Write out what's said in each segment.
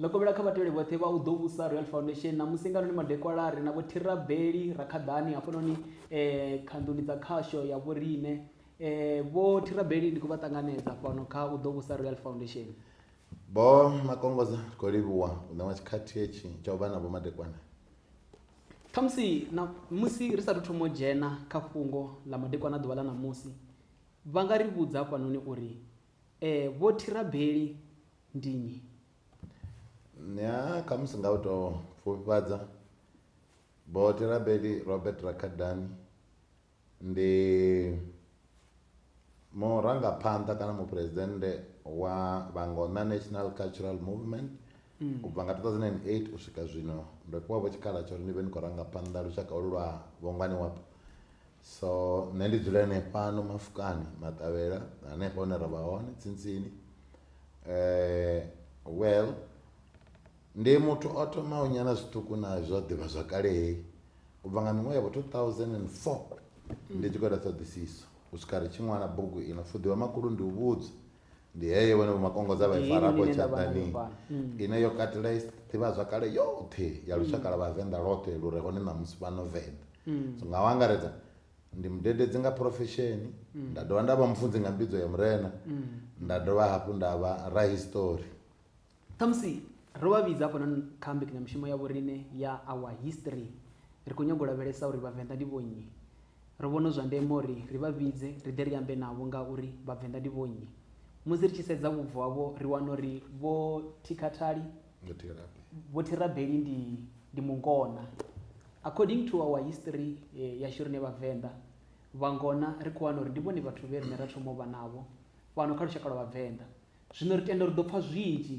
ḽo kovhela kha vhatevheli vhoṱhe vha u ḓo vhusa royal foundation na musi nganoni madekwalari na vho thirabeli rakhaḓani hafhanoni um eh, khanḓuni dza khasho ya vhoriṋe um eh, vho thirabeli ndi khou vha ṱanganedza fhano kha u ḓo vhusa royal foundation Vho Makongoza ri khou livhuwa u ṋewa tshikhathi hetshi tsha u vha na vhomadekwana. Khamusi na musi ri sa athu thoma u dzhena kha fhungo ḽa madekwana a ḓuvha ḽa ṋamusi, vha nga ri vhudza hafhanoni uri, E, Vho Thirabeli ndi nnyi? Ya, khamusi nga u tou pfufhifhadza, Vho Thirabeli Robert Rakadani ndi murangaphanḓa kana muphuresidennde wa Vhangona National Cultural Movement u bva nga 2008 u swika zwino ndo fhiwa vho tshikhala tsha uri ndi vhe ndi khou ranga phanḓa lushaka holu lwa vhongwani wapo so nṋe ndi dzula henefhano mafukani maṱavhela hanefho hune ra vha hone tsintsini um well Ndi muthu o thomaho nyana zwiṱuku na zwa ḓivhazwakale heyi u bva nga miṅwaha ya vho 2004 ndi tshi khou ita ṱhoḓisiso u swika ri tshi ṅwala bugu ino pfuḓi wa makhulu ndi u vhudzwa ndi heyo vhone vho makongodza vha i fara afho tshaḓani ine yo katela ḓivhazwakale yoṱhe ya lushaka lwa vhavenḓa lwoṱhe lu re hone ṋamusi fhano venḓa so nga u angaredza ndi mudededzi nga phurofesheni nda dovha nda vha mufunzi nga mbidzo ya murena nda dovha hafhu nda vha rahistori khamusi ro vha vhidza hafhanoni kha mbekanyamushumo ya vhoriṋe ya our history ri khou nyanga u lavhelesa uri vhavenḓa ndi vhonnyi ro vhona zwa ndeme uri ri vha vhidze ri ḓe ri ambe navho nga uri vhavenḓa ndi vhonnyi musi ri tshi sedza vhubvo havho ri wana uri vho thikhathali vho thirabeli ndi ndi mungona according to our history eh, yashu rine vhavenḓa vhangona ri khou wana uri ndi vhone vhathu vhe rine ra thoma u vha navho fhano kha lushaka lwa vhavenḓa Zwino ri tenda uri ri ḓo pfa zwinzhi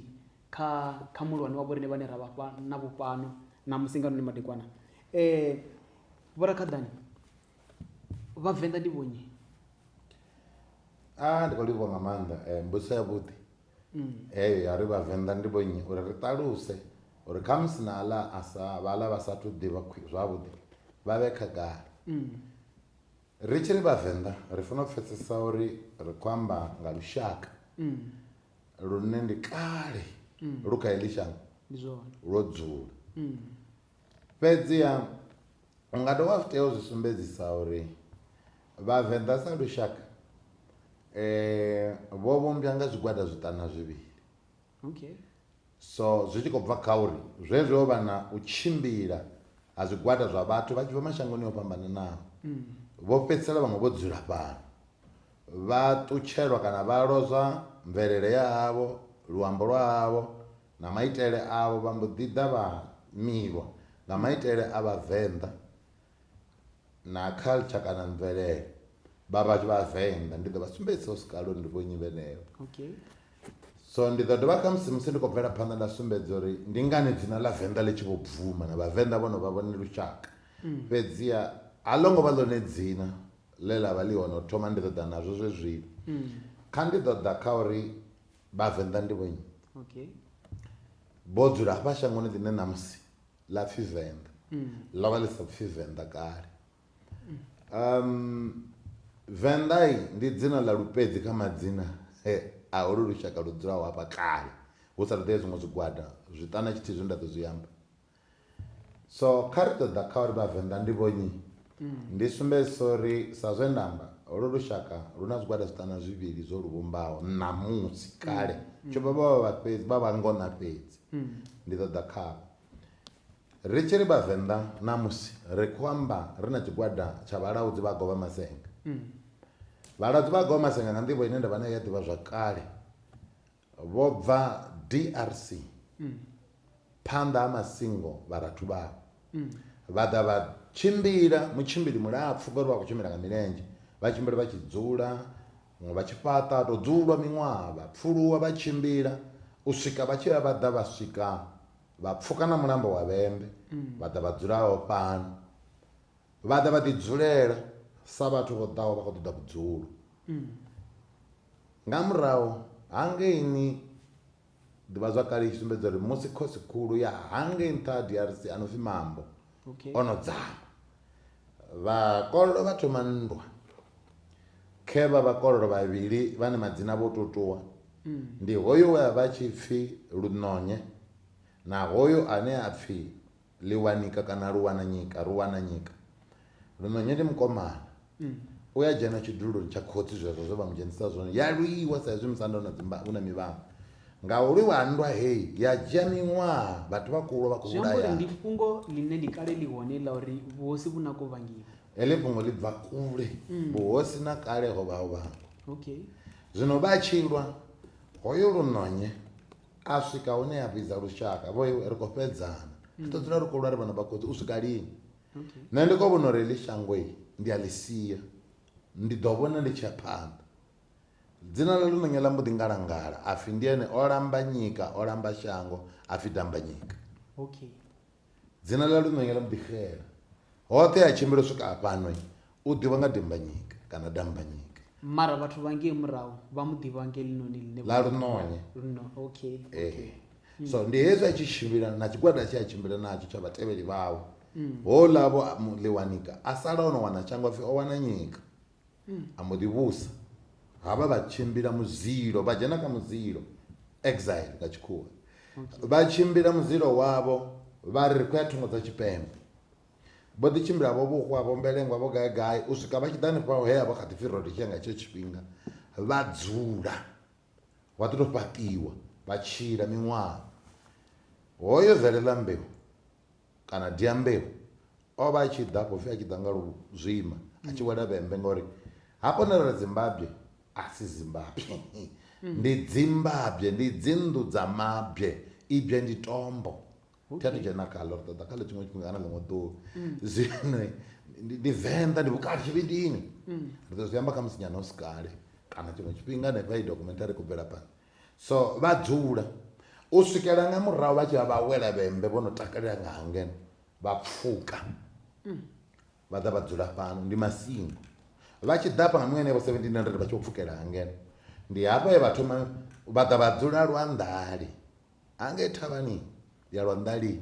kha, kha muhulwane wa vhoriṋe vhane ra vha fha navho fhano ṋamusi nga noni madekwana. Vhorakhaḓani, Vhavenḓa ndi vhonnyi? A, ndi khou livhuwa nga maanḓa mbudziso yavhuḓi heyo ya uri Vhavenḓa ndi vhonnyi, uri ri ṱaluse uri khamusi na aḽa a sa, vhaḽa vha sa athu ḓivha zwavhuḓi vha vhe khagala. Ri tshi ri Vhavenḓa ri fanela u pfesesa uri ri khou amba nga lushaka mm. lune ndi kale mm. lu kha heḽi shango lwo dzula mm. fhedziha u nga dovha zwi tea u zwi sumbedzisa uri Vhavenḓa sa lushaka um vho vhumbwa nga zwigwada zwiṱana zwivhili Okay. So zwi tshi khou bva kha uri zwezwi ho vha na u tshimbila ha zwigwada zwa vhathu vha tshi bva mashangoni o fhambananaho. Mm. Vho fhedzisela vhaṅwe vho dzula fhano. Vha ṱutshelwa kana vha lozwa mvelele ya havho, luambo lwa havho na maitele avho vha mbo ḓi ḓa vha milwa nga maitele a vhavenḓa na culture kana mvelele vha vha vha venḓa ndi ḓo vha sumbedzisa hu si kale uri ndi vho nnyi vhenevho okay so ndi ḓo dovha khamusi musi ndi khou bvela phanḓa nda sumbedza uri ndi ngani dzina ḽa venḓa ḽi tshi vho bvuma na vhavenḓa vho no vha vhone lushaka mm. fhedziha a ḽo ngo vha ḽone dzina ḽe ḽa vha ḽi hone u thoma ndi ḓo ḓa nazwo zwe zwino mm. kha ndi ḓo ḓa kha uri vhavenḓa ndi vhonyi vho dzula hafha shangoni ḽine ṋamusi ḽa pfi venḓa mm. ḽo vha ḽi sa pfi venḓa kale mm. um venḓai ndi dzina ḽa lupedzi kha madzina a holu lushaka lu dzulaho hafha kale hu sa ṱoḓea zwiṅwe zwigwada zwiṱana tshithihi zwine nda ḓo zwi amba so kha ri ṱoḓa kha uri vhavenḓa ndi vhonyi mm. ndi sumbedzisa uri sa zwe nda amba holu lushaka lu na zwigwada zwiṱana zwivhili zwo lu vhumbaho ṋamusi kale tsho vha vha vha fhedzi vha vha ngona fhedzi ndi ḓo ḓa khavho. Ri tshi ri Vhavenḓa ṋamusi ri khou amba ri na tshigwada tsha vhalaudzi vha govha masenga. Vhalaudzi vha govha masenga nga nḓivho ine nda vha nayo ya ḓivhazwakale vho bva DRC phanḓa ha masingo vharathu vhavho vha ḓa vha tshimbila mutshimbili mulapfhu ngori vha khou tshimbila nga milenzhe vha tshimbila vha tshi dzula Vhaṅwe vha tshi fhaṱa ha tou dzulwa miṅwaha, vha pfuluwa vha tshimbila u swika vha tshi vha vha ḓa vha swika vha pfuka na mulamba wa Vhembe vha ḓa vha dzula ho fhano. Vha ḓa vha ḓi dzulela sa vhathu vho ḓaho vha khou ṱoḓa vhudzulo. Nga murahu hangeini Ḓivhazwakale i tshi sumbedza uri musi khosi khulu ya hangei nṱha ha DRC a no pfi Mambo okay. o no dzama vhakololo vha thoma nndwa khe vha vhakololo vhavhili vhane madzina vho tou ṱuwa mm. ndi hoyo we a vha tshi pfi Lunonye na hoyo ane a pfi Liwanika kana Luwananyika, Ruwananyika. Lunonye ndi mukomana. U ya dzhena tshiduloni tsha khotsi zwezwo zwe vha mu dzhenisa zwone. Ya lwiwa sa izwi musanda u na dzimba u na mivhango. Nga u lwiwa ha nndwa heyi ya dzhia miṅwaha vhathu vha khou lwa vha khou Zwi amba uri vhulayaho. ndi fhungo ḽine ndi kale ḽi hone ḽa uri vhuhosi vhu na ko vhangiwa. Heḽi fhungo ḽi bva kule. Vhuhosi na kale ho vha ho vhangwa. Okay. Zwino vha tshi lwa, hoyo Lunonye a swika hune a vhidza lushaka vho ri khou fhedzana ri ḓo dzula ri khou lwa ri vhana vha khotsi u swika lini nṋe ndi khou vhona uri heḽi shango ndi a ḽi sia ndi ḓo vhona ndi tshia phanḓa dzina ḽa ḽononya ḽa mbo ḓi ngalangala a pfhi ndi ene o lamba nyika o lamba shango a pfhi dambanyika okay Dzina ḽa Lunwenye ḽa mbo ḓi xela. Hoṱhe he a tshimbila u swika afhano u ḓivhwa nga Dimbanyika kana Dambanyika. Mara vhathu vha ngei murahu vha mu ḓivha nga heḽinoni ḽine. Ḽa Lunwenye. Luno, okay, okay. So ndi hezwi a tshi tshimbila na tshigwada tshe a tshimbila natsho tsha vhatevheli vhawe. Houḽa Vho Ḽiwanika a sala o no wana shango a pfi o wana nyika. a mbo ḓi vhusa havha vha tshimbila muzilo vha dzhena kha muzilo exile nga tshikhuwa vha tshimbila muzilo wavho vha ri khou ya thungo dza tshipembe vho ḓi tshimbila vho vhuhwa vho mbelengwa vho gai gai u swika vha tshi ḓa hanefha he avha kha ḓi pfhi rodisha nga tshetsho tshifhinga vha dzula vha ḓi to fhaṱiwa vha tshila miṅwaha hoyo zaleḽa mbeu kana dyambeu o vha a tshi ḓa afho pfi a tshi ḓa nga lu zwima a tshi wela vhembe ngori ha kone ri dzimbabye a si zimbabye ndi dzimbabye ndi dzinnḓu dza mabye ibye ndi tombo thi a thu dzhena khaḽo ri ṱoḓa khaḽo tshiṅwe tshifhinga kana ḽiṅwe ḓuvha zwino ndi ndi venḓa ndi vhukati tshivhindini ri ḓo zwi amba kha musi nyana hu si kale kana tshiṅwe tshifhinga hanefha i documentary ku bvela phanḓa So vha dzula u swikela nga murahu vha tshi vha vha wela vhembe vho no takalela nga hangeno vha pfuka vha ḓa vha dzula fhano ndi masingo vha tshi ḓa fhano henevho 1700 vha tshi vho pfukela hangeno ndi hafho he vha thoma vha ḓa vha dzula lwanḓali hangei thavhani ya lwanḓali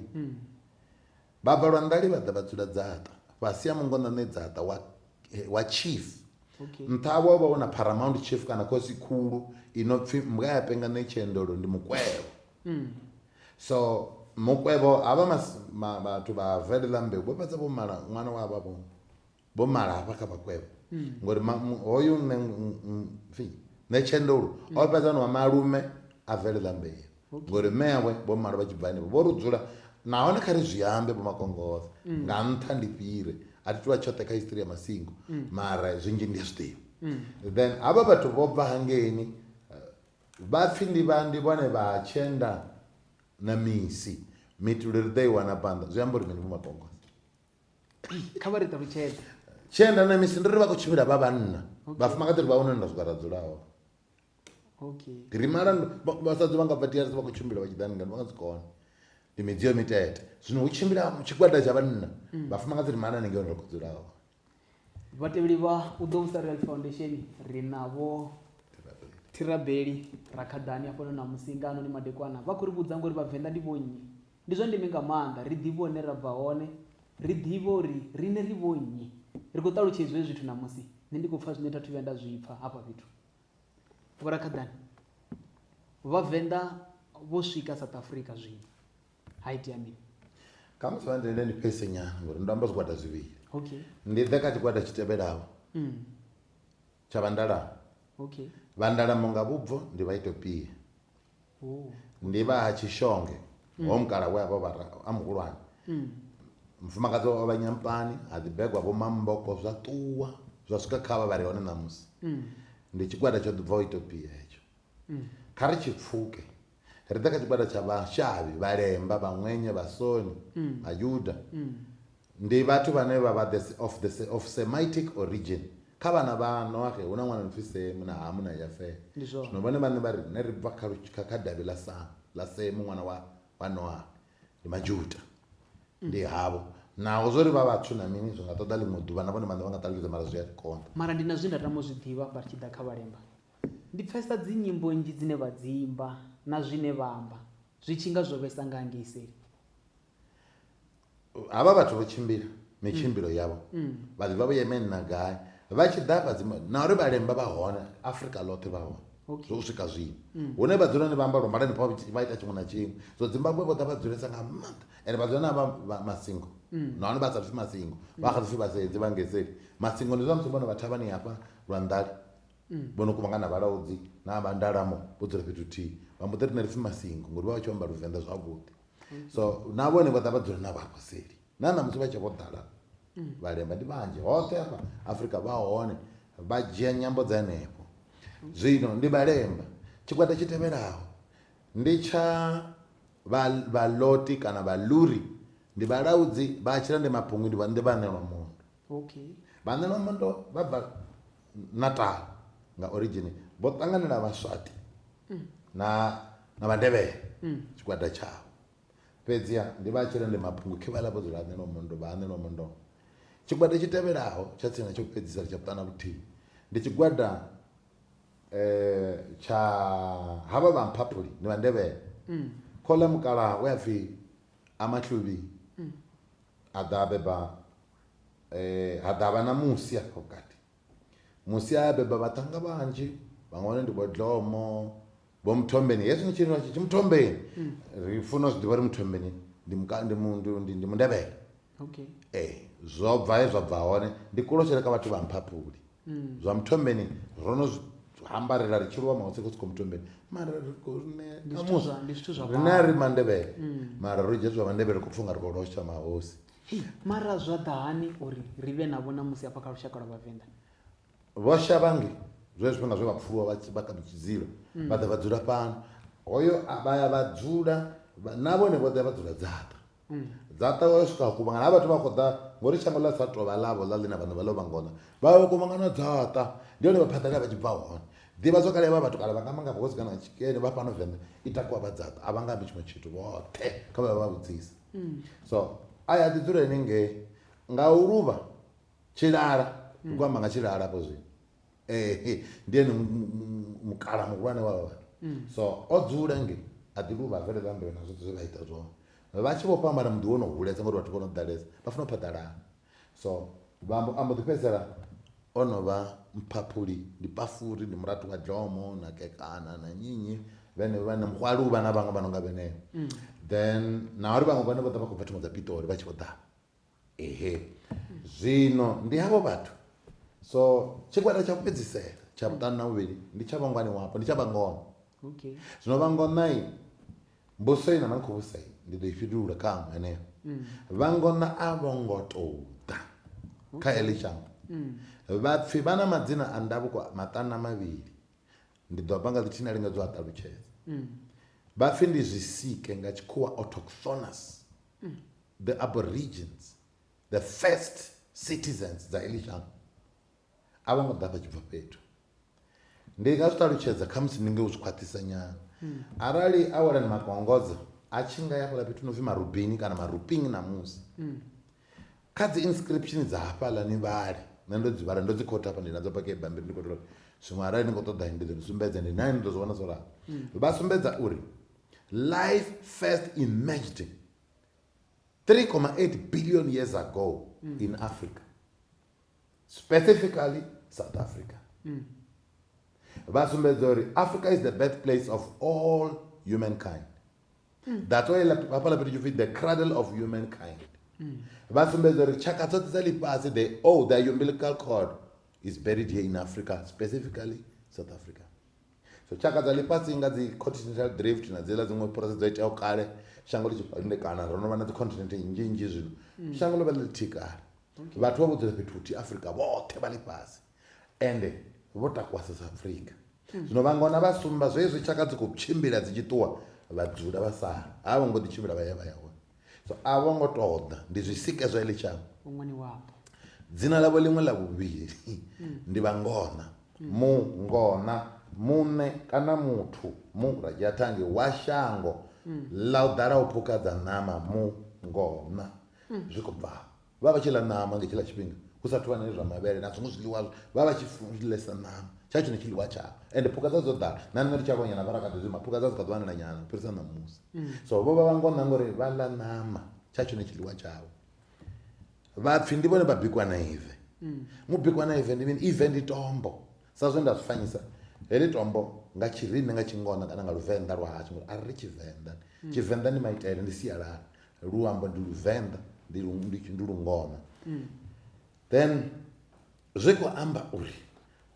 Bvalwandali vha ḓa vha dzula dzaṱa fhasi ha mungonḓane dzaṱa wa, wa chief. Okay. Nṱha havho ho vha hu na paramount chief kana khosi khulu i no pfi mbwa ya penga ṋe tshiendelo ndi mukwevho. Mm. So mukwevho havha vhathu vha velelambe vho fhedza vho mala ṅwana wa vha vho. vho mala hafha kha vhakwevho hmm. ngori hoyu nṋe fi nṋe tshendolo hmm. o fhedza no vha malume a bvelela mbeu ngori mme yawe vho mala vha tshi bva henefho vho ri dzula nahone kha ri zwi ambe vho makongoza hmm. nga nṱha ndi fhire a thi tuvha tshoṱhe kha history ya masingo mara zwinzhi ndi a zwi ḓivha then havha vhathu vho bva hangeini eh, vha pfhi ndi vha ndi vhone vha tshenda na misi mitulo ri ḓo i wana phanḓa zwi amba uri mini vho makongoza kha vha ri ṱalutshedze tshienda na misi ndi ri vha khou tshimbila vha vhanna vhafumakadzi ri vha hone nda swika ra dzula hone okay ri mala vhasadzi vha nga bva drc vha khou tshimbila vha tshi ḓa ningani vha nga si kone ndi midzio mitete zwino hu tshimbila tshigwada tsha vhanna mm. vhafumakadzi ri mala ningei hone ri khou dzula hone vhatevheli vha u ḓo vhusa real foundation ri navho thirabeli rakhaḓani afhano na musingano ni madekwana vha khou ri vhudza ngori vhavenḓa ndi vhonnyi Ndi zwa ndeme nga maanḓa ri ḓivhe hune ra bva hone, ri ḓivhe uri riṋe ri vhonnyi. Ri khou ṱalutshedziwa hezwi zwithu ṋamusi. Nṋe ndi khou pfa zwine tha thu vhuya nda zwi pfa hafha fhethu. Vhorakhaḓani, Vhavenḓa vho swika South Africa zwino. Ha itea mini? Kha musi vha ndende ni fhese nyana ngori ndo amba zwigwada zwivhili. Okay. Ndi ḓe kha tshigwada tshi tevhelaho. Mm. Tsha Vhandalamo. Okay. Vhandalamo nga vhubvo ndi Vhaitopia. Oh. Ndi vha ha Tshishonge, mm. ho mukala we a vha vha a muhulwane. Mm. Mufumakadzi wa vha Nyampani, ha ḓi begwa vho Mamboko zwa ṱuwa zwa swika kha vha vha re hone ṋamusi. Mm. Ndi tshigwada tsho ḓi bvaho Itopia hetsho. Mm. Kha ri tshi pfuke. ri ḓa kha tshigwada tsha vhashavhi, vhalemba, vhaṅwenya, vhasoni, Vhayuda. Ndi vhathu vhane vha vha the of the of Semitic origin. Kha vhana vha Noaxe hu na ṅwana a no pfi Semu na Hamu na Yafehe. Ndi zwone. Zwino vhone vhaṋe vha ri riṋe ri bva kha lu kha kha davhi ḽa Samu, ḽa Semu ṅwana wa wa Noaxe. Ndi Majuda. Ndi havho. Naho zwo ri vha vhatswu na mini zwi nga ṱoḓa ḽiṅwe ḓuvha na vhone vhaṋe vha nga ṱalutshedza mara zwi a ri konḓa. Mara ndi na zwe nda tama u zwi ḓivha hafha ri tshi ḓa kha vhalemba. Ndi pfesa dzi nyimbo nnzhi dzine vha dzi imba na zwine vha amba zwi tshi nga zwo vhesa nga ngei seli. Havha vhathu vho tshimbila mitshimbilo yavho vha ḓi bva vho yeme nna gai vha tshi ḓa hafha dzima na uri vhalemba vha hone Afrika ḽoṱhe vha hone Okay. zwo swika zwino hune vha dzula ni vha amba lwa malani pfa vha ita tshiṅwe na tshiṅwe so dzimbabwe vho ḓa vha dzulesa nga maanḓa ende vha dzula na vha vha masingo nahone vha sa pfi masingo vha kha ḓi pfi vhasedzi vha ngeseli masingo ndi zwa musi vhone vha thavhani hafha lwa nḓali mm. vho no kuvhangana vhalaudzi na vha ndalamo vho dzula fhethu thihi vha mbo ḓi ri na ri pfhi masingo ngori vha vha tshi amba luvenḓa zwavhuḓi mm. so na vhone vha ḓa vha dzula na vhaposeli na ṋamusi vha tshe vho ḓala mm. vhalemba ndi vhanzhi hoṱhe afha afrika vha hone vha dzhia nyambo dza henefho zwino ndi vhalemba tshigwada tshi tevhelaho ndi tsha vhaloti kana vhaluri ndi vhalaudzi vha tshila ndi mapungwi ndi vhaṋelwa mundu Okay. Vhaṋe vha Mondo vha bva Natal nga origin vho ṱanganela Vhaswati mm. na na Vhandebele mm. tshigwada tshavho fhedzi ha ndi vha tshirende mabungu khe vha lafho dzula anelo mondo vha anelo mondo tshigwada tshi tevhelaho tsha tsina tsho fhedzisa tsha vhuṱana vhuthihi ndi tshigwada eh tsha havha vha mphaphuli ni vhandevhele mm. khola mukala we apfi amahluvhi mm. a ḓa beba eh, ha ḓa vha na musi afho vhukati musi a beba vhaṱhanga vhanzhi vhaṅwe hone ndi vhodlomo vho muthombeni hezwi ni tshiri tshi muthombeni mm. ri funa zwi ḓivha ri muthombeni ndi mundebele ee zwo bva he zwa bva hone ndi kulotshele ka vhathu vha mphapuli mm. zwa muthombeni ro no hambarela ri tshilwa mautsi khotsi khou muthombeni mara riṋe ri mandebele mm. mara ro dzhia zwa mandebele khou pfha nga ri khou losha mahosi Hei, mara zwa ḓa hani uri ri vhe navho ṋamusi hafha kha lushaka lwa Vhavenḓa? Vho Shavhange, zwe zwifhinga zwe vha pfuluwa vha tshi vha kha ḓi tshi dzila, vha ḓa vha dzula fhano. Hoyo a vha ya vha dzula, vha- na vhone vho ḓa vha dzula Dzaṱa. Dzaṱa vha swika vha kuvhangana, ha vhathu vha khou ḓa, ngo uri shango ḽa sa tou vha ḽavho ḽa ḽina vhaṋe vha ḽo vha ngona, vha ya vha kuvhangana Dzaṱa. Ndi hone vha phaḓalala vha tshi bva hone. Ḓivhazwakale ya vha vhatukana vha nga manga vhuhosi kana nga tshikene vha fhano Venḓa i takuwa vha Dzaṱa, a vha nga ambi tshiṅwe tshithu vhoṱhe, kha vha vhe vha vhudzise. mm. so a ya ḓi dzula ene ngei nga u luvha tshilala mm. ndi khou amba nga tshilala afho zwino eh, ndi ene mukala muhulwane wa vha mm. so o dzula ngei a ḓi luvha a bvelela mbilu na zwoṱhe zwe vha ita zwone vha tshi vho fhambana muḓi wo no hulesa ngori vhathu vho no ḓalesa vha funa u phaḓalana so vha mbo- a mbo ḓi fhedzisela o no vha mphaphuli ndi pafuri ndi murathu wa dzhomo na kekana na nyinyi vhene vha na muhwaluba na vhaṅwe vha no nga vhenevho then na uri vhaṅwe vhane vho ḓa vha khou bva thungo dza pitori vha tshi vho ḓa ehe zwino ndi havho vhathu so tshigwada tsha u fhedzisela tsha vhuṱanu na vhuvhili ndi tsha vhangwani wapo ndi tsha vhangona okay zwino vha ngona mbuso ina na khou vhusa ndi ḓo i fhindulula kha aṅwe heneyo mm. vha ngona a vho ngo tou ḓa kha eḽi shango mm. vhapfi vha na madzina a ndavhuko maṱana mavhili ndi ḓo bva nga ḽithihi na lingedzo a ṱalutshedza mm. vhapfi ndi zwisike nga tshikhuwa autochthonous the aborigines the first citizens dza eḽi shango a vho ngo ḓa vha tshi bva fhethu Ndi nga zwi ṱalutshedza khamusi ndi nge u zwi khwaṱhisa nyana hmm. arali a wela ni magongodzo a tshi nga ya fhala fhethu no pfhi marubini kana maruping namusi hmm. kha dzi inscription dza hafhaḽa ni vhale nṋe ndo dzi vhala ndo dzi khotha hafha ndi nadzo pake bammbiri ndi khou tea uri zwiṅwe arali ni khou ṱoḓa ndi ḓo ni sumbedza ndi nani ni ḓo zwi vhona zwo ralo hmm. vha sumbedza uri life first emerged 3,8 billion years ago in africa specifically south africa mm. vha sumbedza uri africa is the birth place of all humankind mm. that's why hafhala fhethu tshipfi the cradle of humankind mm. vha sumbedza uri tshaka dzoṱhe dza ḽifhasi the oh the umbilical cord is buried here in africa specifically south africa so tshaka dza ḽifhasi nga dzi continental drift na dziḽa dziṅwe process dzo iteaho kale shango ḽi tshipandekana ro no vha na dzi continent nnzhi nnzhi zwino mm. shango ḽo vha ḽi ḽithihi kale vhathu vha vho dzula fhethu huthihi afrika vhoṱhe vha ḽifhasi ende vho takuwa south africa zwino vhangona vha sumba zwezwi tshaka dzi khou tshimbila dzi tshi ṱuwa vha dzula vha sala a vho ngo ḓi tshimbila vha ya vha ya hone so a vho ngo tou ḓa ndi zwisike zwa iḽi shango ṅwani wapo dzina ḽavho ḽiṅwe ḽa vhuvhili ndi vhangona mungona muṋe kana muthu mu radzhiathangi wa shango ḽa u ḓala u phukha dza ṋama mungona zwi khou bva afho vha vha vha tshi ḽa ṋama nga hetshiḽa tshifhinga hu sa thuvha nane zwa mavhele na zwiṅwe zwiḽiwa vha vha tshi ḽesa ṋama tsha tshone tshiḽiwa tshavho ende phukha dza dzo ḓala na nṋe ndi tshi aluwanyana vha rakadzi ma phukha dza dzi kha ḓuvha nela nyana fhirisa ṋamusi mm. so vho vha vha ngona ngori vha ḽa ṋama tsha tshone tshiḽiwa tshavho vhapfi ndi vhone vha bikwa na ive mm. mubikwa na ive ndi mini ive ndi tombo sa zwe nda zwi fanyisa heḽi tombo nga tshirine nga tshingona kana nga luvenḓa lwa hashu ngori a ri ri tshivenḓa mm. tshivenḓa ndi maitele ndi sialala luambo ndi luvenḓa ndi ndi lungoma mm. then zwi khou amba uri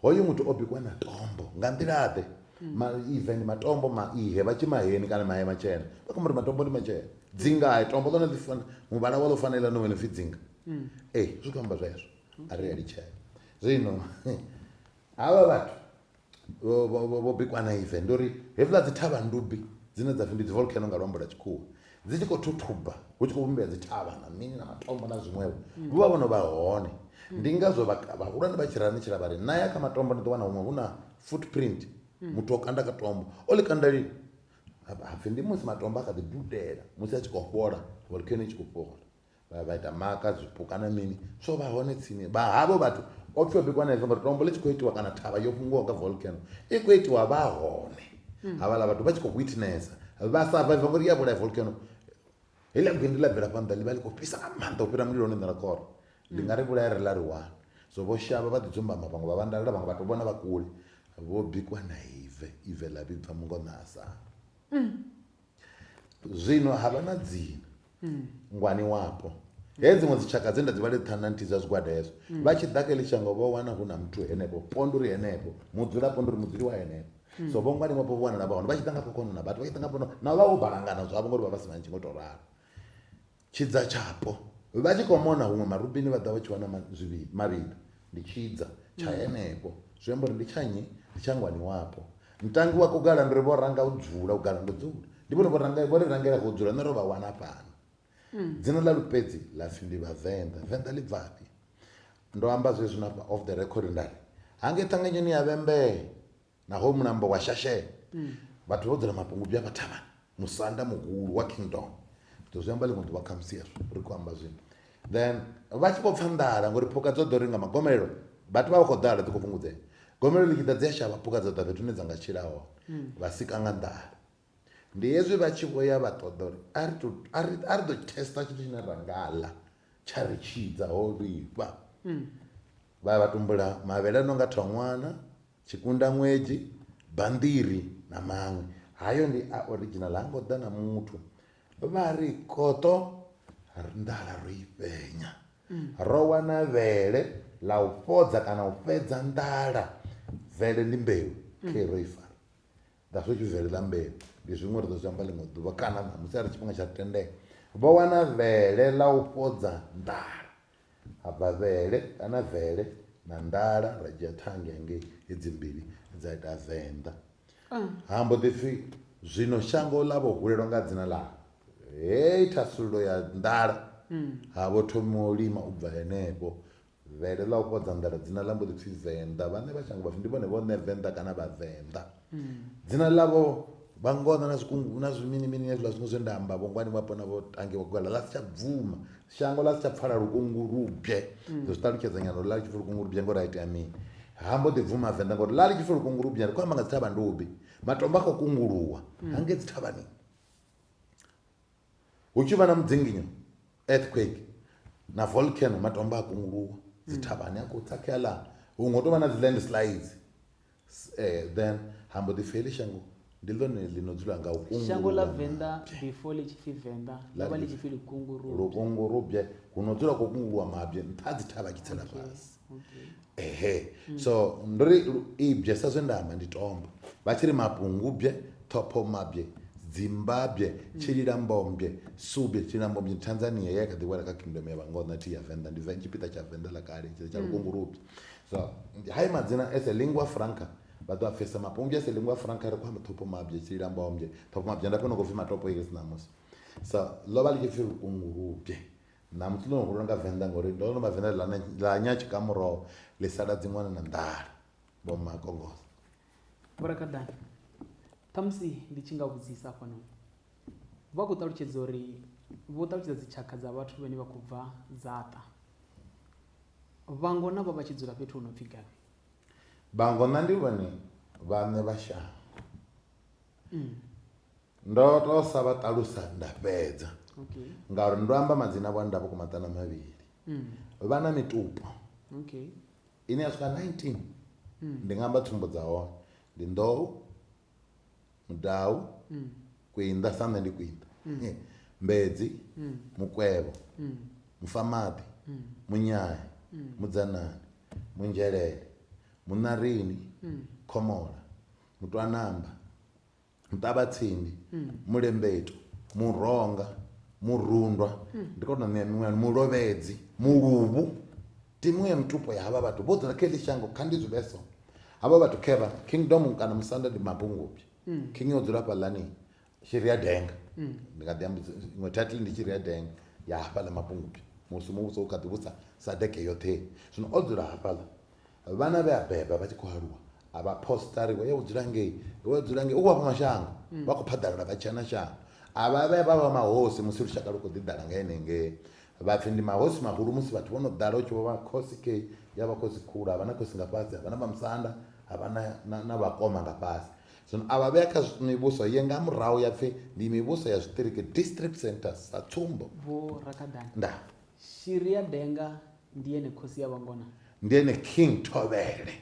hoyo muthu o bikwa na tombo nga nḓilaḓe mm. ma even matombo ma ihe vha tshi maheni kana mahe matshena vha kho ri matombo ndi matshena dzingae tombo ḽone ḽi fana muvhala wa ḽo fanela no wena pfi dzinga mm. ee zwi khou amba zwezwo a ri a litshela zwino havha vhathu vho- vho vho- vho bikwa na ive ndi uri hevhuḽa dzi thavha ndubi dzine dza pfhi ndi dzi volcano nga luambo lwa tshikhuwa dzi tshi khou thuthuba hu tshi khou vhumbea dzi thavha na mini na matombo na zwiṅwevho vho vha vho no vha hone ndi ngazwo vha- vhahulwane vha tshi rani tshila vha ri na ya kha matombo ni ḓo wana huṅwe hu na footprint muthu o kanda ka tombo o ḽi kanda lini Ha- hapfi ndi musi matombo a kha ḓi dudela musi a tshi khou fhola volcano i tshi khou fhola vha vha ita maka zwipuka na mini so vha hone tsini vha havho vhathu o pfhi o bikwa na izwo ngori tombo ḽi tshi khou itiwa kana thavha yo fhunguwaho nga volcano i khou itiwa vha hone hmm. havhaḽa vhathu vha tshi khou witnessa vha sa vaiva ngori ya vhulaya volcano heḽia gwindi ḽa bvela phanḓa ḽi vha ḽi khou fhisa nga maanḓa u fhira mulilo one nḓila kora ndi nga ri vhulaya ri ḽa ri wane so vho shavha vha ḓi dzumbama vhaṅwe vha vhandalela vhaṅwe vhathu vhona vha kule vho bikwa na ive ive ḽa vhibva mungo na asanga hmm. zwino ha vha na dzina mm. ngwani wapo he dziṅwe dzitshaka dze nda dzi vhale ṱhana nthihi dza zwigwada hezwo mm. vha tshi ḓa kha ḽishango vho wana hu na muthu henefho ponduri henefho mudzula ponduri mudzuli wa henefho mm. so vho ngwani wapo vho wanala vha hone vha tshi ḓa nga khokono na vhathu vha tshi ḓa nga pono na vha vho balangana zwavho ngori vha vha si na ntshi ngo tou ralo Tshidza tshapo. Vha tshi khou mona huṅwe marubini vha ḓa vha tshi wana zwivhili mavhili. Ndi tshidza tsha mm. henefho. Zwi amba uri ndi tsha nnyi? Ndi tsha ngwani wapo. Ntangi wa kugala ndi ri vho ranga u dzula, u gala ndo dzula. Ndi vhone vho ri rangela kho dzula, nṋe ro vha wana fhano. Mm. dzina ḽa lupedzi ḽa pfhi ndi vhavenḓa venḓa ḽi bvafhi ndo amba zwezwi na off the record nda ri hange ṱhanganyo ni ya vhembee Naho mulambo wa shashela, vhathu vha u dzula mapungubwi a vha thavhani, musanda muhulu wa Kingdom. Ri zwi amba ḽiṅwe ḓuvha khamusi hezwo, ri khou amba zwino. Then vha tshi vho pfa nḓala ngori phukha dzo ḓo ri nga magomelelo vhathu vha vha khou ḓala dzi khou fhungudzea. Gomelelo ḽi tshi ḓa dzi a shavha phukha dza ḓa fhethu hune dza nga tshila hone, vha sika nga nḓala. Ndi hezwi vha tshi vho ya vha ṱoḓa uri a ri tou a ri a ri ḓo tester tshithu tshine ra nga ḽa tsha ri tshidza ho vhifha vha ya vha tumbula mavhele a no nga thongwana tshikunda ṅwedzi banḓiri na maṅwe hayo ndi a original ha ngo ḓa na muthu vha ri koṱo nḓala ro i fhenya ro wana vhele ḽa u fhodza kana u fhedza nḓala vele ndi mbeu khe ro i fara Nga zwe Israele ḽa ambela, ndi zwiṅwe ri ḓo zwi amba ḽiṅwe ḓuvha kana ṋamusi arali tshifhinga tsha tendela. Vho wana vhele ḽa u fhodza nḓala. Ha bva vhele kana vele na nḓala, ra dzhia ṱhange hangei, hedzi mbili dza ita venḓa. Ha mbo ḓi pfi, Zwino shango ḽa vho hulelwa nga dzina ḽa heyi thasululo ya nḓala, ha vho thoma u lima u bva henefho. Vele ḽa u fhodza nḓala dzina ḽa mbo ḓi pfi Venḓa. Vhaṋe vha shango vha pfi ndi vhone vhoṋe Venḓa kana Vhavenḓa. Dzina ḽavho vha ngona na zwikungu na zwi mini mini hezwiḽa zwiṅwe zwe nda amba vho ngwani vhapo na vho tange vho gwela ḽa si tsha bvuma. Shango ḽa si tsha pfala lukungulubye. Ndo zwi ṱalutshedza nyana uri ḽa ḽi tshi pfi lukungulubye ngori ha itea mini. Ha mbo ḓi bvuma Venḓa ngori ḽa ḽi tshi pfi lukungulubye ri khou amba nga dzi thavhandubi. Matombo a khou kunguluwa hangei dzi thavhani. hu tshi vha na mudzinginyo earthquake na volcano matombo a kunguluwa dzi thavhani a khou tsakhea ḽa huṅwe hu tou vha na dzi landslides eh, then ha mbo ḓi feli shango ndi ḽone ḽi no dzula nga u kunguluwa shango ḽa venḓa before ḽi tshi pfi venḓa ḽa vha ḽi tshi pfi lukungu rubye lukungu rubye hu no dzula khou kunguluwa mabye nṱha dzi thavha tshi tsela fhasi ehe so ndo ri lu- ibye sa zwe nda amba ndi tombo vha tshi ri mapungubye ṱhophomabye dzimbabye tshililambombye subye tshililambombye ndi tanzania ye ya kha ḓi wela kha kingdom ya vhangona thi ya venḓa ndi ven- tshipiḓa tsha venḓa ḽa kale tshi tsha lukungulubye so hai madzina as a lingua franca vha ḓo a pfesa mapungubye as a lingua franca ri khou amba ṱhophomabye tshililambombye ṱhophomabye nda fhona khou pfi matopo iri si ṋamusi so ḽo vha ḽi tshi pfi lukungulubye Ṋamusi ḽo no hula nga Venḓa ngori ndo no vha Venḓa ḽa ḽa nya tshikamuroho ḽi sala dziṅwana na nḓala vho makongosa. Vho Rakaḓana, khamusi ndi tshi nga vhudzisa hafhanoni vha khou ṱalutshedza uri vho ṱalutshedza dzitshakha dza vhathu vhane vha khou bva dzaṱa vhangona vha vha tshi dzula fhethu hu no pfhi gavhi Vhangona ndi vhone vhaṋe vha shango. Ndo to sa vha ṱalusa nda fhedza ngauri ndo amba madzina avho a nda vhukuma maṱanu a mavhili mm. vha na mitupo ine ya swika 19 mm. ndi nga amba tsumbo dza hone ndi nḓou mudau mm. kwinda sa nṋe ndi kwinda mbedzi mukwevho mufamaḓi munyaya mudzanani munzhelele muṋarini khomola mutwanamba muṱavhatsindi mulembeto muronga murundwa ndi kona u ṋea miṅwe mulovhedzi muluvhu timu ya mitupo ya havha vhathu vho dzula kha heḽi shango kha ndi zwi vhe so havha vhathu khevha kingdom kana musanda ndi mabungubyi king o dzula fhaḽani shiri ya denga ndi nga ḓi amba iṅwe title ndi shiri ya denga ya hafhaḽa mabungubyi musi muvhuso u kha ḓi vhusa sadeke yoṱhe zwino o dzula hafhaḽa vhana vhe a beba vha tshi khou aluwa a vha posita ri ya u dzula ngei wa dzula ngei u khou vha fha mashango vha khou phaḓalala vha tshia na shango a vha vhe vha vha mahosi musi lushaka lu khou ḓi ḓala nga henengei vhapfi ndi mahosi mahulu musi vhathu vho no ḓala u tshi vho vha khosi kei ya vha khosi khulu ha vha na khosi nga fhasi ha vha na vhamusanda ha vha na vhakoma nga fhasi zwino a vha vhea kha mivhuso ye nga murahu ya pfhi ndi mivhuso ya zwiṱiriki district centers sa tsumbo nda Shiri ya Denga ndi ene khosi ya vhangona. Ndi ene King Thovhele.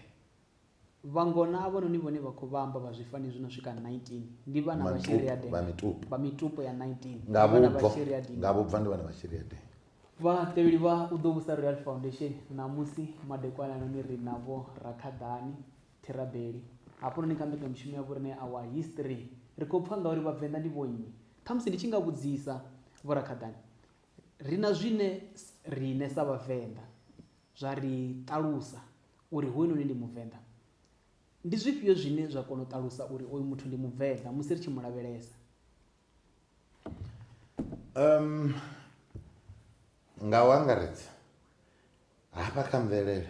Vhangona avhanoni vhone vha khou vha amba vha zwifani zwi no swika 19 ndi vhana vha Shiri ya Denga. Vha mitupo. Vha mitupo ya 19 ndi vhana vha Shiri ya Denga. Nga vhubva ndi vhana vha Shiri ya Denga. Vhatevheli vha U Ḓo Vhusa Royal Foundation ṋamusi madekwananoni ri na Vho Rakhaḓani Therabeli hafhanoni kha mbekanyamushumo ya vhoriṋe Our History. Ri khou pfa ngauri Vhavenḓa ndi vhonnyi. Ṱhamusi ndi tshi nga vhudzisa Vho Rakhaḓani Ri na zwine riṋe sa Vhavenḓa zwa ri ṱalusa uri hoyunoni ndi Muvenḓa. Ndi zwifhio zwine zwa kona u ṱalusa uri oyu muthu ndi Muvenḓa musi ri tshi mu lavhelesa? Nga u angaredza. hafha kha mvelele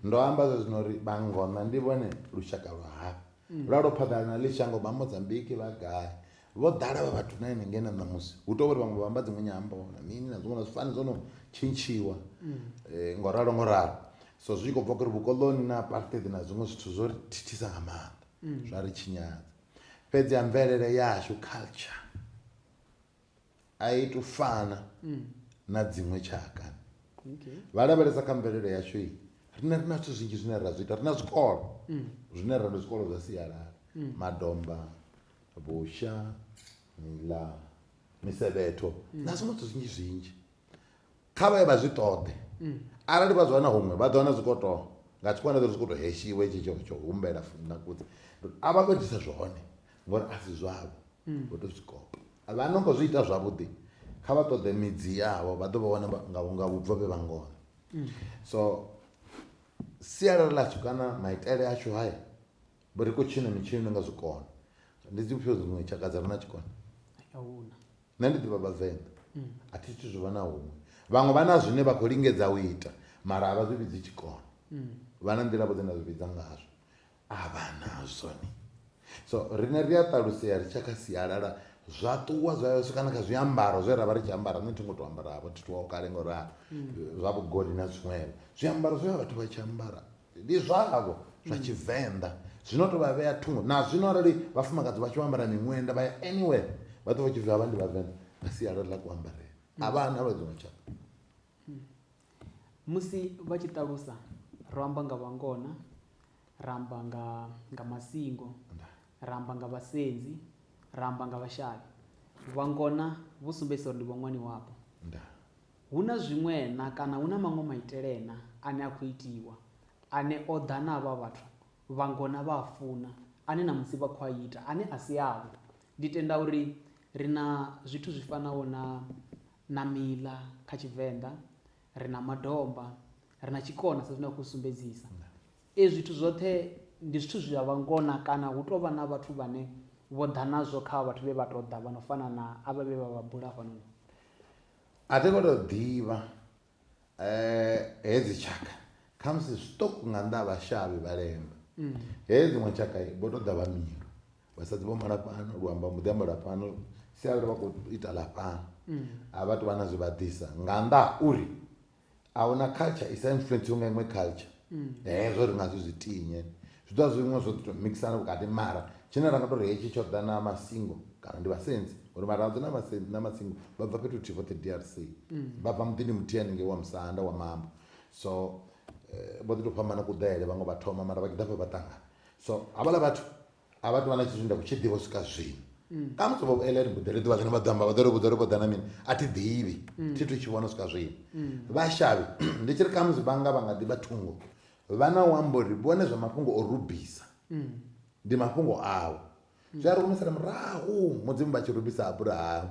ndo amba zwa zwino uri vhangona ndi vhone lushaka lwa hafha lwa lwo phaḓala na ḽi shango vha mozambiki vha gai vho ḓala vha vhathu na henengei na ṋamusi hu tou vhori vhaṅwe vha amba dziṅwe nyambo na mini na zwiṅwe na zwifani zwo no tshintshiwa um ngo ralo ngo ralo so zwi tshi khou bva kuri vhukoloni na apartheid na zwiṅwe zwithu zwo ri thithisa nga maanḓa zwa ri tshinyadza fhedzi ya mvelele yashu culture a i tu fana mm. na dziṅwe tshaka okay. vha lavhelesa kha mvelelo yashu i rine ri na zwithu zwinzhi zwine ra zwi ita ri na zwikolo mm. zwine ra ndi zwikolo zwa sialala mm. madomba vhusha mila misevhetho mm. na zwiṅwe zwithu zwinzhi zwinzhi Kha vha ye vha zwi ṱoḓe. Arali vha zwi wana huṅwe, vha ḓo wana zwi khou tou nga tshikwanḓa zwi khou tou heshiwa hetshi tsho tsho humbela futhi na kudzi. A vha khou itisa zwone ngori a si zwavho, vho tou zwi kopa. Vha no khou zwi ita zwavhuḓi, kha vha ṱoḓe midzi yavho, vha ḓo vha wana nga nga vhubvo vhe vha ngona. So sialala ḽashu kana maitele ashu haya, vho ri khou tshina mitshino ni nga zwi kona. Ndi dzifhio dziṅwe tshaka dza re na tshikona? A hu na. nṋe ndi ḓivha vhavenḓa a thi thu zwi vhona huṅwe vhaṅwe vha na zwine vha khou lingedza u ita mara a vha zwi vhidzi tshikona vha na nḓila vho dzine zwi vhidza ngazwo a vha nazwo ni so riṋe ri a ṱalusea ri tsha kha sialala zwa ṱuwa zwa ya swika na kha zwiambaro zwe ra vha ri tshi ambara nṋe thi ngo to ambaravho thi thuwaho kale ngo ralo zwa vhugoli na zwiṅwevho zwiambaro zwe vha vhathu vha tshi ambara Ndi zwavho zwa Tshivenḓa zwi no tou vha vhea thungo. Na zwino arali vhafumakadzi vha tshi vho ambara miṅwenda vha ya anywhere vha ḓo vha tshi pfhi havha ndi Vhavenḓa nga sialala ḽa kuambarele. A vha na lwa dziṅwe tshaka. Musi vha tshi ṱalusa ro amba nga Vhangona, ra amba nga nga Masingo, ra amba nga Vhasenzi, ra amba nga Vhashavhi. Vhangona vhu sumbedzisa uri ndi vhoṅwani wavho. Ndaa. Hu na zwiṅwe-na kana hu na maṅwe maitele-na ane a khou itiwa, ane o ḓa na avha vhathu vha ngona vha a funa, ane ṋamusi vha khou a ita, ane a si avho? Ndi tenda uri ri na zwithu zwi fanaho na, na miḽa kha Tshivenḓa, ri na madomba, ri na tshikona sa zwine a khou sumbedzisa. Ezwi zwithu zwoṱhe ndi zwithu zwa vha ngona kana hu tou vha na vhathu vhane vho ḓa nazwo kha avha vhathu vhe vha tou ḓa vha no fana na avha vhe vha vha bula hafhanoni. A thi ngo tou ḓivha hedzi tshaka khamusi zwiṱuku nga nnḓa ha vhashavhi vha lemba he dziṅwe tshaka vho to ḓa vha mila vhasadzi vho mala fhano luambo mbo ḓi amba lwa fhano sialala vha khou ita ḽa fhano a vha tu vha na zwi vha ḓisa nga nnḓa ha uri A hu na culture i sa influenciwe nga iṅwe culture. Hezwo ri nga si zwi tinye. Zwi ḓo vha zwi zwiṅwe zwo ḓi tou mixana vhukati mara tshine ra nga tou ri hetshi tsho ḓa na masingo kana ndi vhasenzi ngori Vharadzo na Vhasenzi na Masingo vha bva fhethu huthihi vhoṱhe DRC. Vha bva muḓini muthihi haningei wa Musanda wa mambo. So vho ḓi tou fhambana kuḓele, vhaṅwe vha thoma mara vha tshi ḓa hafha vha ṱangana. So havhaḽa vhathu a vha tovha na tshithu nda kutshi ḓivha u swika zwino mm. a muthu vho eleni mbuḓele ḓuvha ḽine vha ḓo amba vha ḓo ri vhuḓo ri vho ḓa na mini a thi ḓivhi mm. thi thu tshi vhona u swika zwino mm. vhashavhi ndi tshi ri khamusi vhanga vha nga ḓivha thungo vha na u amba uri vhone zwa mafhungo o rubisa ndi mafhungo awo zwi a ri humisela murahu mudzimu vha tshi rubisa abrahamu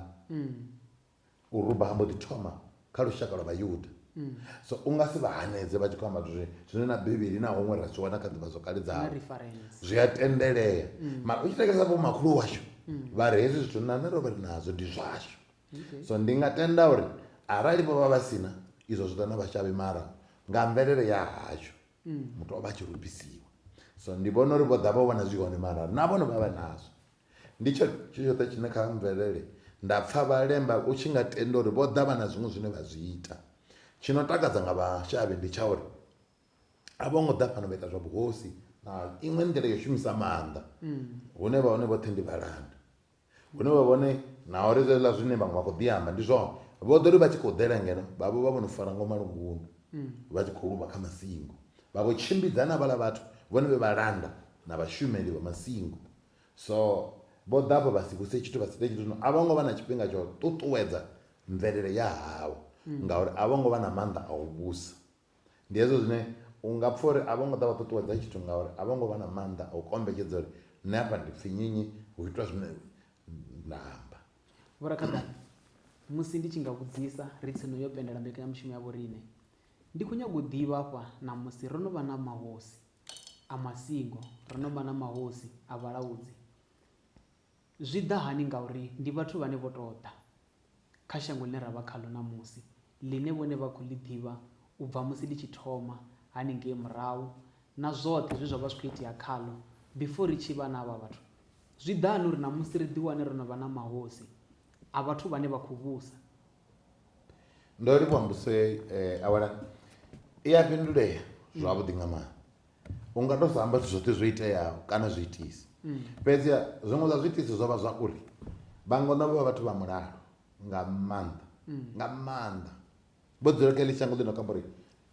u ruba ha mbo ḓi thoma kha lushaka lwa vhayuda mm. so u nga si vha hanedze vha tshi khou amba zwine zwine na bivhili na huṅwe ra zwi wana kha ḓivha zwokale dzao zwi a tendelea mm. mara u tshi tekesa vho makhulu washu mm. vha ri hezwi zwithu nṋe ro vha ri nazwo ndi zwashu so ndi nga tenda uri arali vho vha vha sina izwo zwi ḓa na vhashavhi mara nga mvelele ya hashu muthu o vha a tshi rubisiwa so ndi vhona uri vho ḓa vho vhona zwi hone mara na vhone vha vha nazwo Ndi tshone tshithu tshoṱhe tshine kha mvelele nda pfa vhalemba u tshi nga tenda uri vho ḓa vha na zwiṅwe zwine vha zwi ita. Tshi no takadza nga vhashavhi ndi tsha uri a vho ngo ḓa fhano vha ita zwa vhuhosi na iṅwe nḓila ya u shumisa maanḓa, hune vha hone vhoṱhe ndi vhalanda. Hune vha vhone na uri zwezwiḽa zwine vhaṅwe vha khou ḓi amba ndi zwone, vho ḓo ri vha tshi khou ḓela ngeno vha vho vha vho no fara ngo malungundu vha tshi khou luvha kha masingo, vha vho tshimbidza na vhaḽa vhathu vhone vhe vhalanda na vhashumeli vha masingo. So, vho ḓa afho vha si vhuse tshithu, vha si ite tshithu. Zwino a vho ngo vha na tshifhinga tsha u ṱuṱuwedza mvelele ya havho ngauri a vho ngo vha na maanḓa a u vhusa. Ndi hezwo zwine u nga pfa uri a vho ngo ḓa vha ṱuṱuwedza tshithu ngauri a vho ngo vha na maanḓa a u kombetshedza uri nṋe afha ndi pfi nyinyi, hu itwa zwine nda amba. Vho Rakhaḓana, musi ndi tshi nga vhudzisa ri tsini yo pendela mbekanyamushumo ya vhoriṋe, ndi khou nyaga u ḓivha afha ṋamusi ro no vha na mahosi. a masingo, ri no vha na mahosi a vhalaudzi. Zwi ḓa hani? Ngauri ndi vhathu vhane vho tou ḓa kha shango ḽine ra vha khaḽo ṋamusi, ḽine vhone vha khou ḽi ḓivha u bva musi ḽi tshi thoma haningei murahu na zwoṱhe zwe zwa vha zwi khou itea khaḽo before ri tshi vha na havha vhathu. Zwi ḓa hani uri ṋamusi ri ḓiwane ro no vha na mahosi a vhathu vhane vha khou vhusa? Ndo ri vha mbuse awela i a fhindulea zwavhuḓi nga maanḓa. U nga to sa amba zwithu zwoṱhe zwo iteaho kana zwi itisi. Fhedzi ha zwiṅwe zwa zwi itisi zwo vha zwa uri vha ngona vho vha vhathu vha mulalo nga maanḓa nga maanḓa. Vho dzula kha heḽi shango ḽi no kho amba uri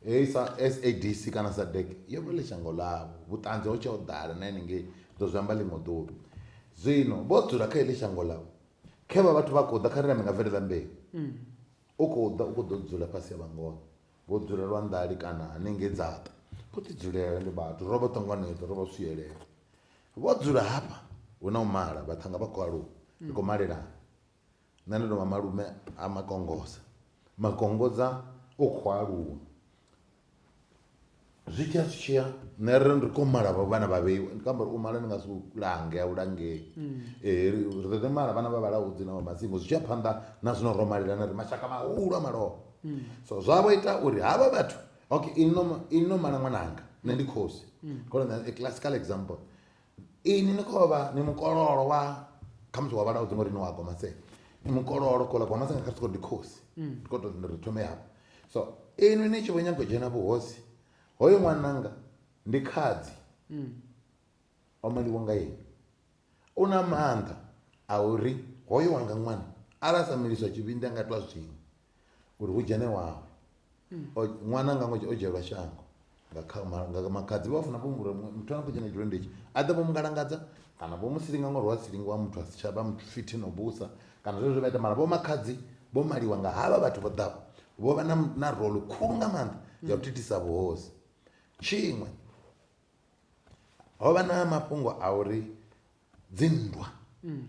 heyi sa S_A_D_C kana SADEC yo vha ḽi shango ḽavho vhuṱanzi ho tsha ho ḓala na henengei ndo zwi amba ḽiṅwe ḓuvha. Zwino vho dzula kha heḽi shango ḽavho Khevha vhathu vha khou ḓa, kha ri nambe nga vele ḽa mbeu. U khou ḓa, u khou ḓo dzula fhasi ha vhangono. Vho dzula lwa nḓali kana hanengei dzaṱa. Vho ḓi dzulela ndi vhathu, ro vha ṱanganedza, ro vha swielela. Vho dzula hafha, hu na u mala, vhaṱhannga vha khou aluwa, ri khou malelana. Nṋe ndo no vha malume a Makongoza. Makongoza u khou aluwa, Zwi tshiya zwi tshiya nṋe ri ri khou mala havho vhana vha vheiwa ndi khou amba uri u mala ndi nga si u lange a u langei ri ḓo ḓi mala vhana vha vhalaho dzina vha masingo zwi tshi ya phanḓa na zwino ro malelana ri mashaka mahulu a malofha so zwa vho ita uri havha vhathu okay inwi no inwi no mala ṅwananga nṋe ndi khosi ndi khou ri ṋea a classical example Inwi ni khou vha ni mukololo wa khamusi wa vhala u ḓingo ri ni wa gomasela ni mukololo kola gomasela kha siko ndi khosi ndi khou tou ri thome hafho so inwi ni tshi vho nyaga u dzhena vhuhosi hoyo ṅwananga ndi khadzi o maliwa nga inwi u na maanḓa a uri hoyo wanga ṅwana arali a sa miliswa tshivhindi a nga itiwa zwiṅwe uri hu dzhene wawe O- ṅwana nga ṅwedzi o dzhielwa shango nga kha- ma- nga makhadzi vha funa vhombura muthu ane a khou dzhena tshilonda itshi a ḓe vho mu ngalangadza kana vho mu silinga ngori wa silingiwa muthu a si tsha vha muthu fithi no vhusa kana zwezwo zwe vha ita mara vho makhadzi vho maliwa nga havha vhathu vho ḓaho vho vha na, na rolo khulu nga maanḓa ya u thithisa vhuhosi tshiṅwe ho vha na mafhungo a uri dzinndwa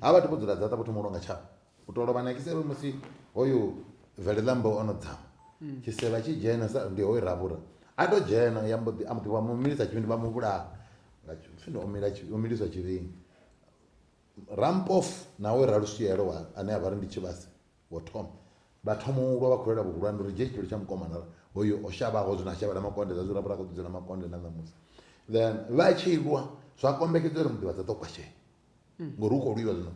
ha vhathu vho dzula dzaṱa vho thoma u longa tshavho u to lovha na kisevhe musi hoyu bvelelambo o no dzama tshisevha tshi dzhena sa ndi hoyu ravhura a to dzhena ya mbo ḓi a mbo ḓi vha mu milisa tshivhindi vha mu vhulaha nga tshifhinga o mila o miliswa tshivhindi rampofu na hoyu raluswielo wa ane a vha ri ndi tshivhase Vho Tom vha thoma u lwa vha khou lwela vhuhulwane uri dzhie tshitoli tsha mukomana hoyo o shavhaho zwino a shavha na makonde zwa zwirabura kho ḓidzela makonde na ṋamusi then vha tshi lwa zwa kombekedzwa uri muḓivhadza ḓo kwashea hmm. ngori hu khou lwiwa zwino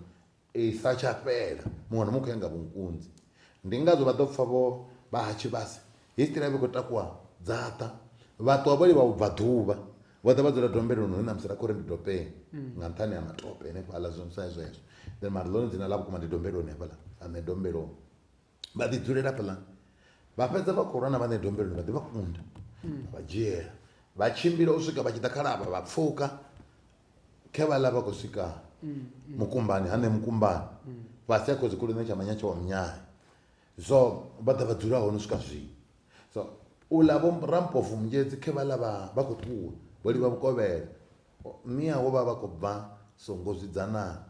i sa tsha fhela muṅwe na muṅwe khou ya nga vhunkunzi ndi ngazwo vha ḓo pfa vho vha ha tshivhasi History ya vha i khou takuwa dzaṱa vhaṱuwa vho livha vhubvaḓuvha vho ḓa vha dzula dombeloni hune ṋamusi ra khou ri ndi dopeni nga nṱhani ha matope henefhaḽa zwo sa zwezwo then mara ḽone dzina ḽa vhukuma ndi dombeloni hafhaḽa aṋe dombeloni vha ḓi dzulela hafhaḽani vha fhedza vha khou lwa na vhaṋe dombeloni vha ḓi vha kunda vha dzhiela vha tshimbila u swika vha tshi ḓa khalavha vha pfuka khe vhaḽa vha khou swika mukumbani haṋe mukumbani fhasi a khodzikhulu ṋe tsha manyatsha wa munyanya So vha ḓa vha dzula hone u swika zwino. So u ḽa vho rampofu munzhedzi khe vha ḽa vha vha khou ṱuwa vho livha vhukovhela mia wo vha vha khou bva songo zwidzanana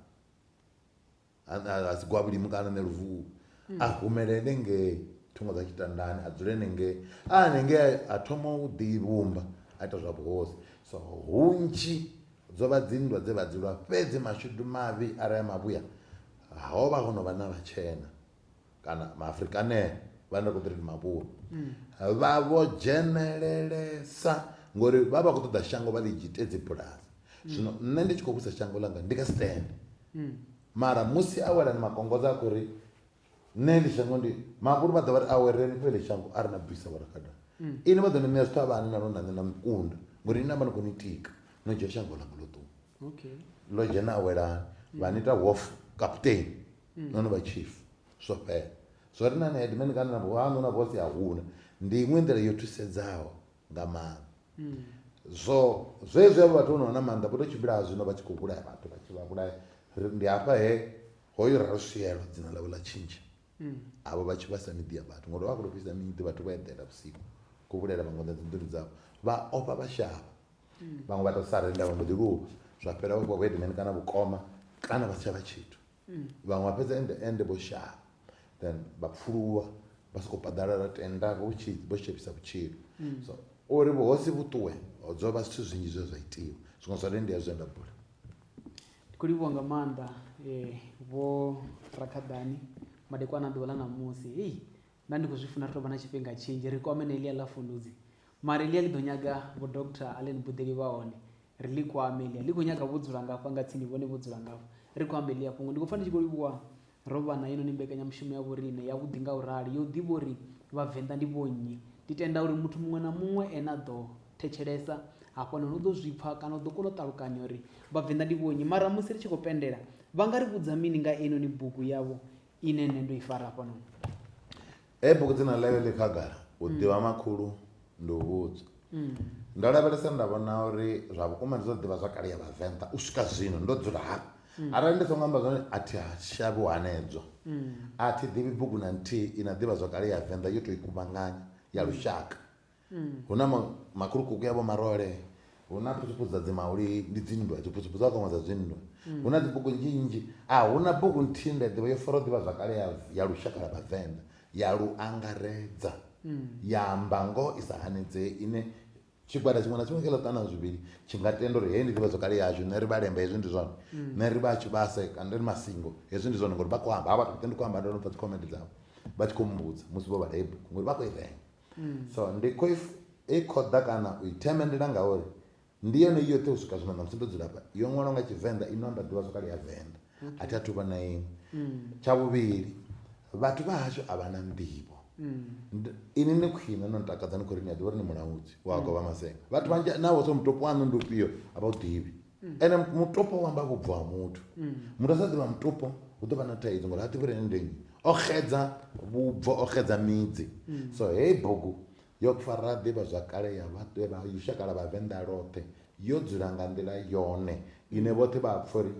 ha si gwavhulimu kana ne luvuhu hmm. a humelele nge thungo dza tshitandani a dzule nenge a nenge a thoma u ḓi vhumba a ita zwa vhuhosi so hunzhi dzo vha dzinndwa dze vha dzulwa fhedzi mashudu mavhi arali mavhuya ho vha ho no vha na vhatshena kana maafrikanea vhane ra khou ḓi ri ndi mavhuru mm. vha vho dzhenelelesa ngori vha vha khou ṱoḓa shango vha ḽi dzhite dzibulasi mm. zwino nṋe ndi tshi khou vhusa shango ḽanga ndi kha stand mm. mara musi a wela ni makongoza a khou ri nṋe ḽi shango ndi mavhuru vha ḓo vha ri awereni fhe ḽi shango a ri na bvisa vhorakada ini vha ḓo ni ṋea zwithu a vha ani na lwo na nṋe na mukunda ngori ini na vha ni khou ni tika no dzhia shango ḽanga ḽo ṱuwa okay lo dzhena a wela mm. vha nita wolf captain mm. no no vha chief zwo fhela zwo ri na na headman kana na vhanu na boss ya huna ndi iṅwe nḓila yo thusedzaho nga maanḓa mm. zwo zwe zwe vhathu no na maanḓa vho to tshimbila zwino vha tshi khou vhulaya vhathu vha tshi vha vhulaya ndi hafha he hoyo ra ri swielo dzina ḽa vho ḽa tshintsha avho vha tshi vhasa miḓi ya vhathu ngori vha khou tou fhisa miḓi vhathu vho eḓela vhusiku khou vhulaela vhaṅwe ḓa dzinḓuni dzavho vha ofha vha shavha vhaṅwe vha tou sa renda vha mbo ḓi luvha zwa fhela vha fhiwa vhoedimeni kana vhukoma kana vha si tsha vha tshithu vhaṅwe vha fhedza ende ende vho shavha then vha pfuluwa vha sokou paḓalala tenda vho tshi vho shavhisa vhutshilo so uri vhuhosi vhuṱuwe dzo vha zwithu zwinzhi zwe zwa itiwa zwiṅwe zwa hone ndi ya zwe nda bula Ndi khou livhuwa nga maanḓa vho Rakhaḓani madekwana a ḓuvha ḽa ṋamusi hei nda ndi khou zwi funa ri tou vha na tshifhinga tshinzhi ri kwame na elia ḽa fundudzi mara elia ḽi ḓo nyaga vho doctor allen buḓeli vha hone ri ḽi kwame elia ḽi khou nyaga vho dzula ngafha nga tsini vhone vho dzula ngafha ri khou amba elia fhungo ndi khou pfa ndi tshi khou livhuwa Ro vha na heinoni mbekanyamushumo ya vhoriṋe yavhuḓi nga u rali, ya u ḓivha uri Vhavenḓa ndi vhonnyi. Ndi tenda uri muthu muṅwe na muṅwe ane a ḓo thetshelesa hafhanoni u ḓo zwi pfa kana u ḓo kona u ṱalukanya uri Vhavenḓa ndi vhonnyi. Mara musi ri tshi khou pendela, vha nga ri vhudza mini nga heinoni bugu yavho ine nṋe ndo i fara hafhanoni? Hei bugu dzina ḽayo ḽi khagala, u mm. ḓivha makhulu ndi u vhudzwa. Mm. Ndo lavhelesa nda vhona uri zwa vhukuma ndi zwa ḓivha zwa kale ya Vhavenḓa u swika zwino ndo dzula hafha. Mm. Arali ndi songo amba zwone a thi shavhi u hanedzwa. A thi ḓivhi bugu na nthihi i na ḓivha zwa kale ya Venḓa yo tou i kuvhanganya ya lushaka. Hu na makhulukuku ya vhomarole, hu na phutsuphu dza dzimauli, ndi dzinndwa, dziphutsuphu dza vhakwama dza dzinndwa. Hu na dzibugu nnzhi nnzhi. A hu na bugu nthihi nda i ḓivha yo faraho ḓivhazwakale ya ya lushaka lwa Vhavenḓa, ya lu angaredza, ya amba ngoho i sa hanedzei ine tshigwada tshiṅwe na tshiṅwe kha ḽiṱanu na zwivhili tshi nga tenda uri heyi ndi ḓivhazwakale yashu, riṋe ri Vhalemba hezwi ndi zwone, riṋe ri vha Tshivhase kana ri Masingo hezwi ndi zwone ngori vha khou amba. Havha vhathu vhoṱhe ndi khou amba ndo no pfa dzikhomende dzavho vha tshi khou mmbudza musi vho vhala heyi bugu ngori vha khou i renga. so ndi khou i khoḓa kana u i themendela ngauri ndi yone i yoṱhe u swika zwino ṋamusi ndo dzula hafha yo ṅwalwa nga tshivenḓa ino amba ḓivha zwakale ya venḓa a thi a thu vhona iṅwe tsha vhuvhili vhathu vha hashu a vha na nḓivho ini ni khwine no ntakadza ni khou ri ni a ḓivha uri ni mulaudzi wa govha masenga vhathu vhanzhi navho so mutopo waṋu ndi ufhio a vha u ḓivhi mm. ende mutopo wamba kubvo wa mutu mm. mutu asaziva mutopo utova na taidzo ngori ativi rene ndenyi oxedza vubvo oxedza midzi mm. so hei bhuku yokufarira ḓivha zwakale ya vhaṱweva yushakala vhavenḓa loṱhe yo dzula nga nḓila yone ine vhoṱhe vha pfha uri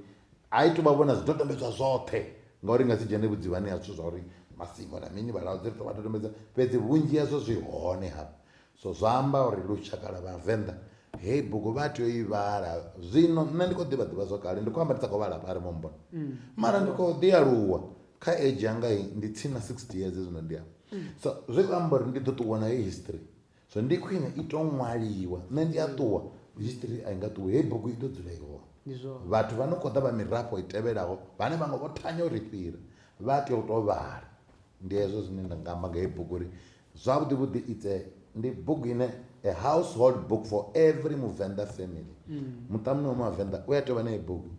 a i tovha vhona zwidodombedzwa zwoṱhe ngauri nga si dzhene vhudzivhani ha zwithu zwa uri masivo na mini vhalaudzi ri tovha dodombedza fhedzi vhunzhi hazwo zwi hone hafha So zwa amba uri lushaka lwa Vhavenḓa heyi bugu vha tea u i vhala. Zwino nṋe ndi khou ḓivha ḓivha zwa kale, ndi khou amba ndi sa khou vhala hafha arali mu mmbona. Mara ndi khou ḓi aluwa kha age yanga heyi, ndi tsini na 60 years zwino ndi afha. So zwi khou amba uri ndi ḓo ṱuwa nayo history. So ndi khwine i tou ṅwaliwa, nṋe ndi a ṱuwa history a i nga ṱuwi, heyi bugu i ḓo dzula i hone. Ndi zwone. Vhathu vha no khou ḓa vha mirafho i tevhelaho vhane vhaṅwe vho thanya u ri fhira vha tea u tou vhala. Ndi hezwo zwine nda nga amba nga heyi bugu uri Zwavhuḓi vhuḓi it's a ndi bugu ine a household book for every muvenḓa family mm. muṱa muṅwe wa mavenḓa u a tea u vha na bugu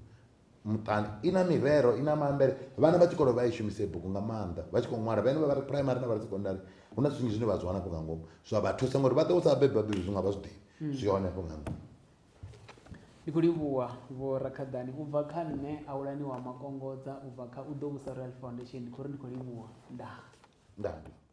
muṱani i na mirero i na maambele vhana vha tshikolo vha i shumisa i bugu nga maanḓa vha tshi khou ṅwala vhane vha vha ri primary na vha ri secondary hu na zwinzhi zwine vha zwi wana afho nga ngomu zwa vha thusa ngori vha ṱo sa bebe vhabebi zwi nga vha zwi ḓivhi mm. zwi hone afho nga ngomu ndi khou livhuwa vho rakhaḓani u bva kha nṋe awulani wa makongodza u bva kha u ḓo vhusa royal foundation ndi khou ri ndi khou livhuwa ndaa ndaa